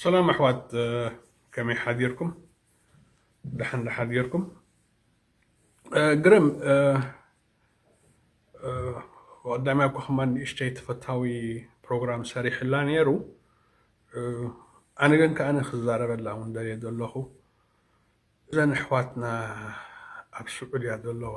ሰላም ኣሕዋት ከመይ ሓዲርኩም ደሓን ዳሓዲርኩም ግርም ወዳሚ ኣኳ ከማ ንእሽተይ ተፈታዊ ፕሮግራም ሰሪሕላ ነይሩ ኣነ ግን ከዓነ ክዛረበላ እውን ደልየ ዘለኹ እዘን ኣሕዋትና ኣብ ስዑድያ ዘለዋ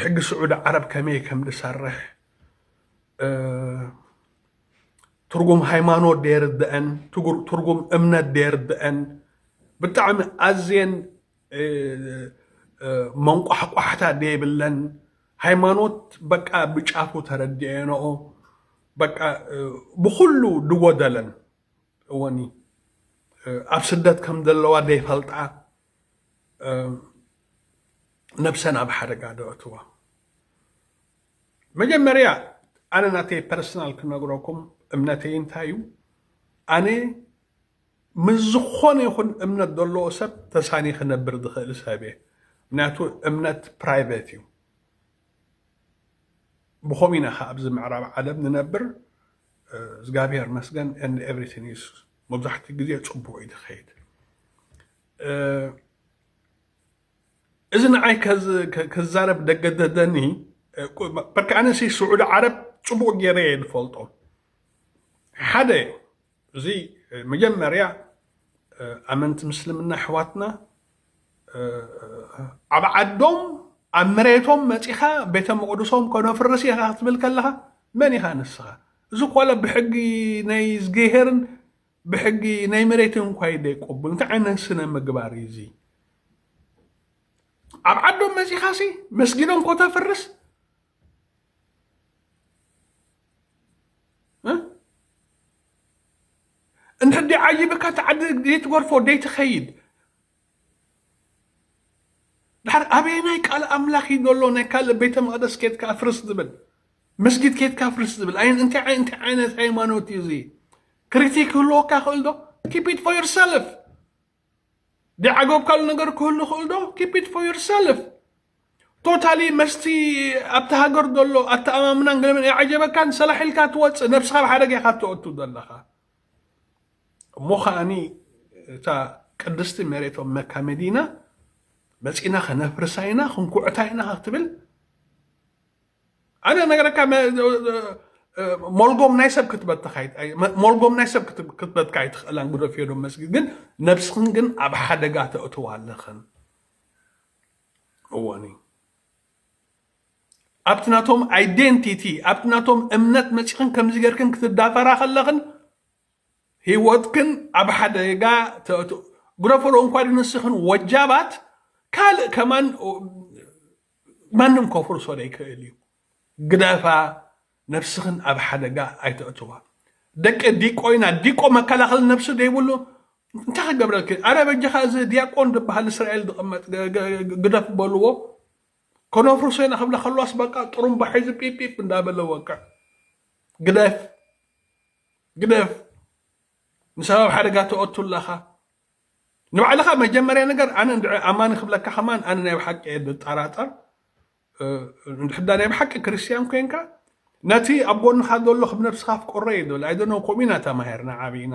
ሕጊ ስዑዲ ዓረብ ከመይ ከም ዝሰርሕ ትርጉም ሃይማኖት ደየርድአን ትርጉም እምነት ደየርድአን ብጣዕሚ ኣዝየን መንቋሕቋሕታ ደይብለን ሃይማኖት በቃ ብጫፉ ተረድኤንኦ በቃ ብኩሉ ድጎደለን እወኒ ኣብ ስደት ከም ዘለዋ ደይፈልጣ ነብሰን ኣብ ሓደጋ ደእትዋ መጀመርያ ኣነ ናተይ ፐርሰናል ክነግረኩም እምነተይ እንታይ እዩ ኣነ ምስ ዝኾነ ይኹን እምነት ዘለዎ ሰብ ተሳኒ ክነብር ዝኽእል ሰብ እየ ምክንያቱ እምነት ፕራይቬት እዩ ብኸምኡ ኢና ከዓ ኣብዚ ምዕራብ ዓለም ንነብር እግዚኣብሔር መስገን ኤቭሪቲን ኢየሱስ መብዛሕትኡ ግዜ ፅቡቕ እዩ ዝኸይድ እዚ ንዓይ ክዛረብ ደገደደኒ በርካ ኣነሲ ስዑዲ ዓረብ ፅቡቕ ገይረ እየ ዝፈልጦ ሓደ እዚ መጀመርያ ኣመንቲ ምስልምና ኣሕዋትና ኣብ ዓዶም ኣብ መሬቶም መፂኻ ቤተ መቕድሶም ከነፍርስ ኢኻ ክትብል ከለኻ መን ኢኻ ንስኻ እዚ ኮለ ብሕጊ ናይ ዝገሄርን ብሕጊ ናይ መሬትን እንኳ ይደይቆብል እንታይ ዓይነት ስነ ምግባር እዩ እዚ ኣብ ዓዶም መፂኻ ሲ መስጊዶም ኮተፍርስ እንተ ዓይብካ እቲ ዓዲ ዘይትገርፎ ዘይትኸይድ ድሓር ኣበየናይ ቃል ኣምላኽ እዩ ዘሎ ናይ ካልእ ቤተ መቕደስ ኬትካ ኣፍርስ ዝብል መስጊድ ኬትካ ኣፍርስ ዝብል ኣይ እንታይ ዓይ እንታይ ዓይነት ሃይማኖት እዩ እዚ ክሪቲክ ክህልወካ ክእል ዶ ኪፕ ኢት ፎር ዮርሰልፍ ዲዓገብካሉ ነገር ክህሉ ይኽእል ዶ ኪፕ ኢት ፎር ዩር ሰልፍ ቶታሊ መስቲ ኣብቲ ሃገር ዘሎ ኣተኣማምናን ገለመን ኣይዓጀበካን ሰላሕ ኢልካ ትወፅእ ነብስኻ ኣብ ሓደጋ ኢኻ ተወቱ ዘለኻ እሞ ከዓኒ እታ ቅድስቲ መሬቶም መካ መዲና መፂና ከነፍርሳ ኢና ክንኩዕታ ኢና ክትብል ኣነ ነገረካ ሞልጎም ናይ ሰብ ክትበትካ ሞልጎም ናይ ሰብ ክትበትካ ኣይትኽእላን ጉደፍ ዶ መስጊድ ግን ነብስኽን ግን ኣብ ሓደጋ ተእትዋ ኣለኽን እወኒ ኣብቲ ናቶም ኣይደንቲቲ ኣብቲ ናቶም እምነት መፂኽን ከምዚ ገርክን ክትዳፈራ ከለኽን ህይወትክን ኣብ ሓደጋ ተእትው ጉደፈሎ እንኳ ንስኽን ወጃባት ካልእ ከማን ማንም ከፍርሶ ዘይክእል እዩ ግደፋ ነብስኽን ኣብ ሓደጋ ኣይተእትዋ ደቂ ዲቆይና ዲቆ መከላኸሊ ነብሲ ዘይብሉ እንታይ ክገብረልኪ ኣረ በጃኻ እዚ ዲያቆን ዝበሃል እስራኤል ዝቕመጥ ግደፍ በልዎ ከነፍርሶ ኢና ክብላ ከለዋስ በቃ ጥሩምባ ሒዙ ጲጲፕ እንዳበለ ወቅዕ ግደፍ ግደፍ ንሰብ ኣብ ሓደጋ ተወቱ ኣለኻ ንባዕልኻ መጀመርያ ነገር ኣነ እንድዒ ኣማኒ ክብለካ ከማን ኣነ ናይ ብሓቂ እየ ዝጠራጠር እንድሕዳ ናይ ብሓቂ ክርስትያን ኮንካ ነቲ ኣብ ጎንኻ ዘሎ ክብ ነብስኻ ኣፍቅሮ እዩ ዝብል ኣይደነው ከምኡ ኢና ተማሂርና ዓብይና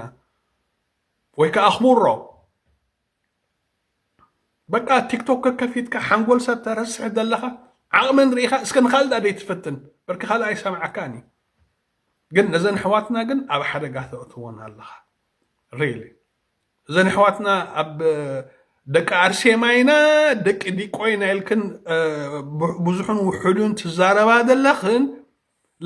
ወይ ከዓ ኣኽብሮ በቃ ቲክቶክ ከከፊትካ ሓንጎል ሰብ ተረስሕ ዘለኻ ዓቕመን ርኢኻ እስከ ንካል ዳ ደይትፈትን በርኪ ካልእ ኣይሰምዓካን እዩ ግን ነዘን ኣሕዋትና ግን ኣብ ሓደጋ ተእትወን ኣለኻ ሪሊ እዘን ኣሕዋትና ኣብ ደቂ ኣርሴማ ኢና ደቂ ዲቆ ኢና ኢልክን ብዙሕን ውሑዱን ትዛረባ ዘለኽን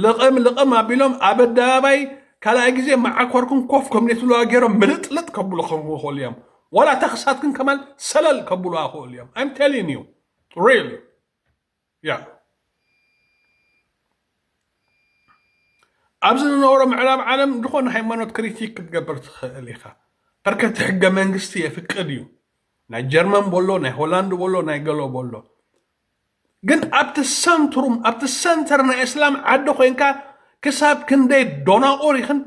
ልቕም ልቕም ኣቢሎም ኣብ ኣደባባይ ካልኣይ ግዜ መዓኮርኩም ኮፍ ከም ነትብለዋ ገይሮም ምልጥልጥ ከብሉ ክኽእሉ እዮም ዋላ ተኽሳትክን ከማን ሰለል ከብሉዋ ክእሉ እዮም ኣይም ቴሊን እዩ ሪል እያ። ኣብዚ ንነብሮ ምዕራብ ዓለም ዝኾነ ሃይማኖት ክሪቲክ ክትገብር ትኽእል ኢኻ። በርከቲ ሕገ መንግስቲ የፍቅድ እዩ። ናይ ጀርመን ቦሎ ናይ ሆላንድ ቦሎ ናይ ገሎ ቦሎ ግን ኣብቲ ሰንትሩም ኣብቲ ሰንተር ናይ እስላም ዓዲ ኮንካ ክሳብ ክንደይ ዶናቑር ይኽን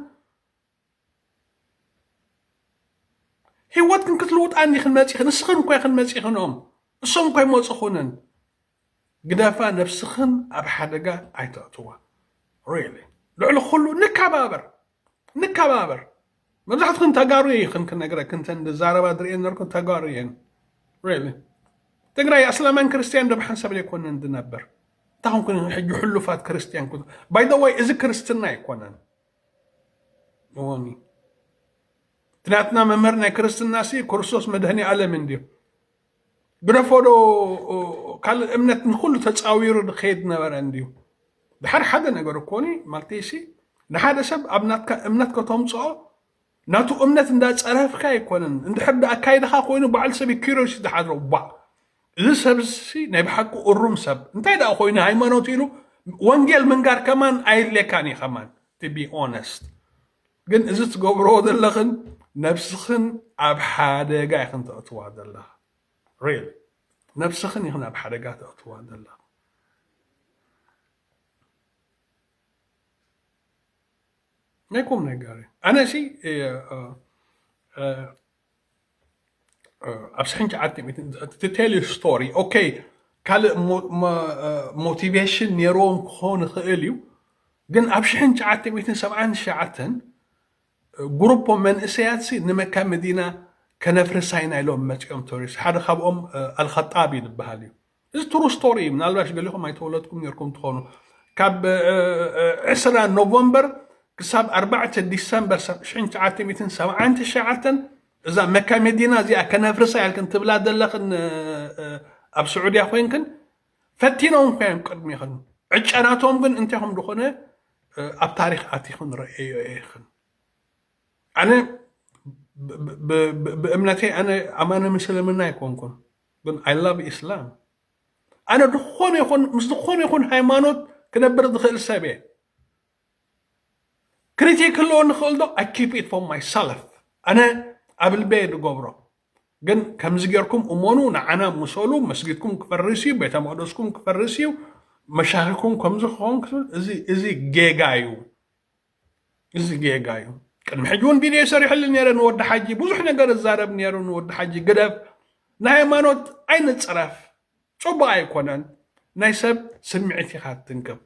ህይወትክን ክትልውጣን ኢኽን መፂኽን ንስኽን እኮ ኢኽን መፂኽኖም እሶም እኮ ይመፅኹንን ግደፋ ነብስኽን ኣብ ሓደጋ ኣይተእትዋ ሪሊ ልዕሊ ኩሉ ንከባበር ንከባበር መብዛሕትክን ተጋሩ ይኽን ክነግረክን ተን ዛረባ ዝርእየን ነርኩን ተጋሩ እየን ሪሊ ትግራይ ኣስላማን ክርስትያን ደብ ሓንሳብ ዘይኮነን ዝነበር እንታይ ሕጂ ሕሉፋት ክርስትያን ባይ ዘ ወይ እዚ ክርስትና ኣይኮነን እዋኒ እቲ ናትና መምህር ናይ ክርስትና ሲ ክርስቶስ መድህኒ ዓለም እንድዮ ግደፎዶ ካልእ እምነት ንኩሉ ተፃዊሩ ዝኸይድ ነበረ እንድዩ ድሓር ሓደ ነገር እኮኒ ማለተይሲ ንሓደ ሰብ ኣብ ናትካ እምነት ከተምፅኦ ናቱ እምነት እንዳጸረፍካ ኣይኮነን እንድሕር ዳ ኣካይዳኻ ኮይኑ በዓል ሰብ ኪሮስ ዝሓድሮ ባዕ እዚ ሰብሲ ናይ ብሓቂ እሩም ሰብ እንታይ ደኣ ኮይኑ ሃይማኖት ኢሉ ወንጌል ምንጋር ከማን ኣየድልየካን እዩ ከማን ቱ ቢ ኦነስት ግን እዚ ትገብሮ ዘለኽን ነብስኽን ኣብ ሓደጋ ኢኽን ተእትዋ ዘለኻ ሪል ነብስኽን ኢኽን ኣብ ሓደጋ ተእትዋ ዘለኻ ናይ ቁም ነገር እዩ ኣነ እሲ ኣብ ስሕን ሸዓተ ትቴል ስቶሪ ኦኬ ካልእ ሞቲቬሽን ነይርዎም ክኾን ይኽእል እዩ ግን ኣብ ሽሕን ሸዓተ ሚትን ሰብዓን ሸዓተን ግሩፖ መንእሰያት ሲ ንመካ መዲና ከነፍርሳይና ኢሎም መፂኦም ተሪስ ሓደ ካብኦም ኣልኸጣቢ ዝበሃል እዩ እዚ ትሩ ስቶሪ እዩ ምናልባሽ ገሊኹም ኣይተወለጥኩም ነርኩም ትኾኑ ካብ ዕስራ ኖቨምበር ክሳብ ኣርባዕተ ዲሰምበር ሽሕን ትሽዓተ ሚእትን ሰብዓን ትሽዓተን እዛ መካ መዲና እዚኣ ከነፍርሳ ኢልክን ትብላ ዘለኽን ኣብ ስዑድያ ኮንክን ፈቲኖም እኳ እዮም ቅድሚኽን ዕጨናቶም ግን እንታይ ከም ዝኾነ ኣብ ታሪክ ኣቲኽን ረአዮ ኢኽን ኣነ ብእምነተይ ኣነ ኣማነ ምስልምና ኣይኮንኩን ግን ኣይ ላቭ ኢስላም ኣነ ዝኾነ ይኹን ምስ ዝኾነ ይኹን ሃይማኖት ክነብር ዝኽእል ሰብ እየ ክሪቲክ ክህልዎ ንኽእል ዶ ኣይ ኪፕ ኢት ፎር ማይ ሰልፍ ኣነ ኣብ ልበየ ዝገብሮ ግን ከምዚ ጌርኩም እመኑ ንዓና ምሰሉ መስጊድኩም ክፈርስ እዩ ቤተ መቅደስኩም ክፈርስ እዩ መሻኺኩም ከምዚ ክኸውን እዚ ጌጋ እዩ እዚ ጌጋ እዩ ቅድሚ ሕጂ እውን ቪድዮ ሰሪሕሉ ነረ ንወዲ ሓጂ ብዙሕ ነገር እዛረብ ነሩ ንወዲ ሓጂ ግደፍ ናይ ሃይማኖት ኣይንፅረፍ ፅቡቅ ኣይኮነን ናይ ሰብ ስምዒት ኢኻ ትንክብ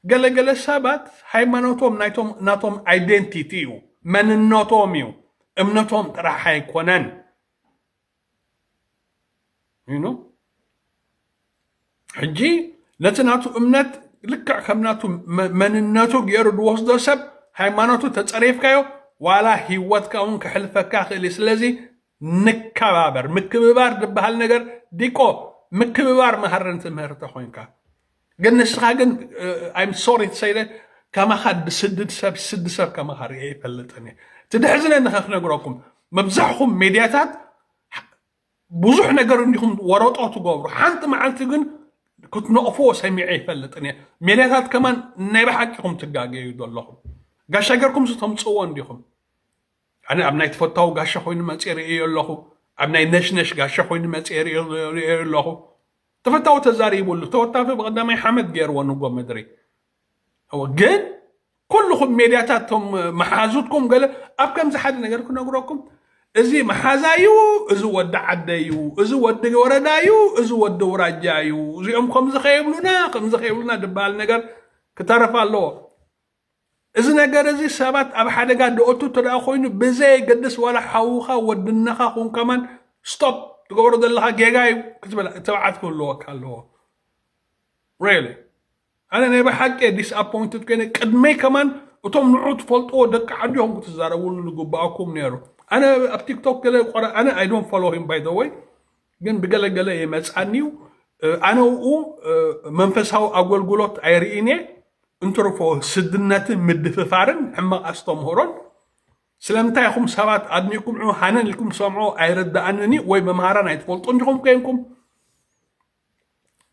ገለገለ ሰባት ሃይማኖቶም ናይቶም ናቶም ኣይደንቲቲ እዩ መንነቶም እዩ እምነቶም ጥራሕ ኣይኮነን ሕጂ ነቲ ናቱ እምነት ልክዕ ከም ናቱ መንነቱ ገይሩ ዝወስዶ ሰብ ሃይማኖቱ ተፀሪፍካዮ ዋላ ሂወትካ እውን ክሕልፈካ ክእል እዩ ስለዚ ንከባበር ምክብባር ዝበሃል ነገር ዲቆ ምክብባር መሃረን ትምህርቲ ኮንካ ግን ንስኻ ግን ኣይም ሶሪ ትሰይለ ከማኻ ድስድድ ሰብ ስዲ ሰብ ከማኻ ርኤ ይፈልጥን እየ እቲ ድሕዝነኒ ከክነግረኩም መብዛሕኹም ሜድያታት ብዙሕ ነገር እንዲኹም ወረጦ ትገብሩ ሓንቲ መዓልቲ ግን ክትነቕፍዎ ሰሚዐ ይፈልጥን እየ ሜድያታት ከማን ናይ ብሓቂኹም ትጋገዩ ዘለኹም ጋሻ ገርኩም ዝተምፅዎ እንዲኹም ኣነ ኣብ ናይ ተፈታዊ ጋሻ ኮይኑ መፅእ ርእዮ ኣለኹ ኣብ ናይ ነሽነሽ ጋሻ ኮይኑ መፅእ ርእዮ ኣለኹ ተፈታዊ ተዛሪቡሉ ተወታፊ ብቀዳማይ ሓመድ ገይርዎ ንጎ ምድሪ እወ ግን ኩልኹም ሜድያታት ቶም መሓዙትኩም ገለ ኣብ ከምዚ ሓደ ነገር ክነግረኩም እዚ መሓዛ እዩ እዚ ወዲ ዓደ እዩ እዚ ወዲ ወረዳ እዩ እዚ ወዲ ውራጃ እዩ እዚኦም ከምዚ ከየብሉና ከምዚ ከየብሉና ዝበሃል ነገር ክተረፍ ኣለዎ እዚ ነገር እዚ ሰባት ኣብ ሓደጋ ደኦቱ እንተደኣ ኮይኑ ብዘየገድስ ዋላ ሓውኻ ወድነኻ ኩን ከማን ስቶፕ ትገብሮ ዘለኻ ጌጋ እዩ ክትብል ትብዓት ክህልወካ ኣለዎ ሬሊ ኣነ ናይ ብሓቂ እየ ዲስኣፖይንትድ ኮይነ ቅድመይ ከማን እቶም ንዑ ትፈልጥዎ ደቂ ዓዲ ኹም ክትዛረብሉ ዝግብኣኩም ነይሩ ኣነ ኣብ ቲክቶክ ገለ ቆረ ኣነ ኣይ ዶንት ፎሎ ሂም ባይ ዘ ወይ ግን ብገለ ገለ ይመጻኒዩ ኣነኡ መንፈሳዊ ኣጎልጉሎት ኣይርኢንየ እንትርፎ ስድነትን ምድፍፋርን ሕማቅ ኣስተምህሮን ስለምንታይ ኢኹም ሰባት ኣድኒኩም ዑ ሃነን ኢልኩም ሰምዖ ኣይርዳኣንን እዩ ወይ መምሃራን ኣይትፈልጡን ዲኹም ኮይንኩም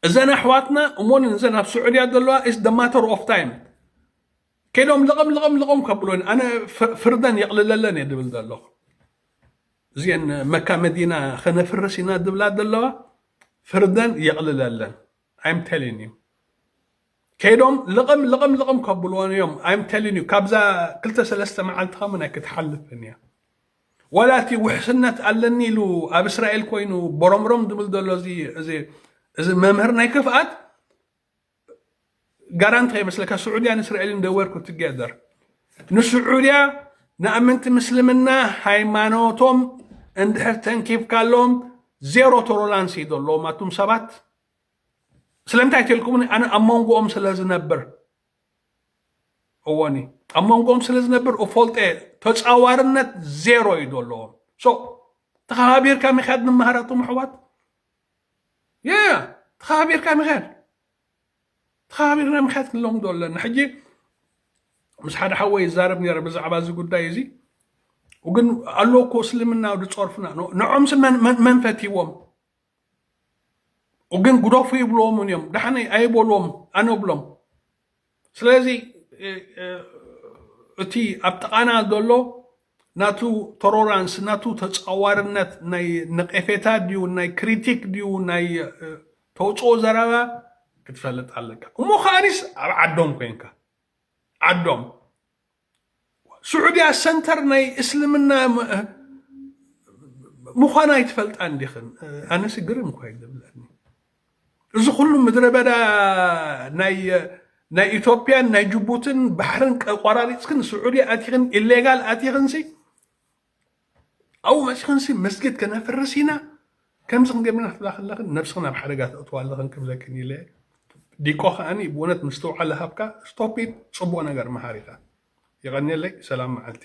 እዘን ኣሕዋትና እሞን እዘን ኣብ ስዑድያ ዘለዋ ኢስ ደ ማተር ኦፍ ታይም ከይዶም ልቕም ልቕም ልቕም ከብሎን ኣነ ፍርደን የቕልለለን እየ ድብል ዘለኹ እዚአን መካ መዲና ከነፍርስ ኢና ድብላ ዘለዋ ፍርደን የቕልለለን ኣይም ቴሊን እዩ ከይዶም ልቕም ልቕም ልቕም ከብልዎን እዮም ኣይም ቴሊን እዩ ካብዛ ክልተ ሰለስተ መዓልቲ ከምን ኣይክትሓልፍን እያ ዋላ እቲ ውሕስነት ኣለኒ ኢሉ ኣብ እስራኤል ኮይኑ ቦሮምሮም ዝብል ዘሎ እዚ መምህር ናይ ክፍኣት ጋራ እንታይ ይመስለካ ስዑድያን እስራኤልን ደወርኩ ትገደር ንስዑድያ ንኣመንቲ ምስልምና ሃይማኖቶም እንድሕር ተንኪፍካሎም ዜሮ ቶሮላንስ እዩ ዘለዎም ኣቱም ሰባት ስለምንታይ ትልኩምኒ ኣነ ኣብ መንጎኦም ስለ ዝነብር እዎኒ ኣብ መንጎኦም ስለ ዝነብር እፈልጠ ተፃዋርነት ዜሮ እዩ ዘለዎም ተኸባቢርካ ምካድ ንመሃረቶም ኣሕዋት ያ ተኸባቢርካ ምሕያል ተኸባቢርና ምሕያት ክንለምዶ ኣለና ሕጂ ምስ ሓደ ሓወይ ይዛረብ ነረ ብዛዕባ እዚ ጉዳይ እዚ ግን ኣሎ እኮ እስልምና ዝፀርፉና ንዖም ስና መን ፈትዎም ግን ጉደፉ ይብልዎምን እዮም ዳሓነ ኣይበልዎም ኣነብሎም ስለዚ እቲ ኣብ ጥቓና ዘሎ ናቱ ተሮራንስ ናቱ ተጻዋርነት ናይ ነቄፌታ ድዩ ናይ ክሪቲክ ድዩ ናይ ተውፅኦ ዘረባ ክትፈልጥ ኣለካ እሞ ከዓኒስ ኣብ ዓዶም ኮንካ ዓዶም ሱዑድያ ሰንተር ናይ እስልምና ምዃና ኣይትፈልጣን ዲኽን? ኣነሲ ግርም እኳ እዩ ዝብለኒ እዚ ኩሉ ምድረ በዳ ናይ ኢትዮጵያን ናይ ጅቡትን ባሕርን ቆራሪፅክን ስዑዲ ኣቲኽን ኢሌጋል ኣቲኽንሲ ኣብኡ መፂኽንሲ መስጊድ ከነፍርስ ኢና ከምዚ ክንገብር ኢና ትብላ ከለኽን ነብስኽን ኣብ ሓደጋ ተእትዋ ኣለኽን ክብለክን ኢለ ዲቆ ከዓኒ ብእውነት ምስትውዓል ሃብካ ስቶፒድ ፅቡቅ ነገር መሃር ኢኻ የቀንየለይ ሰላም መዓልቲ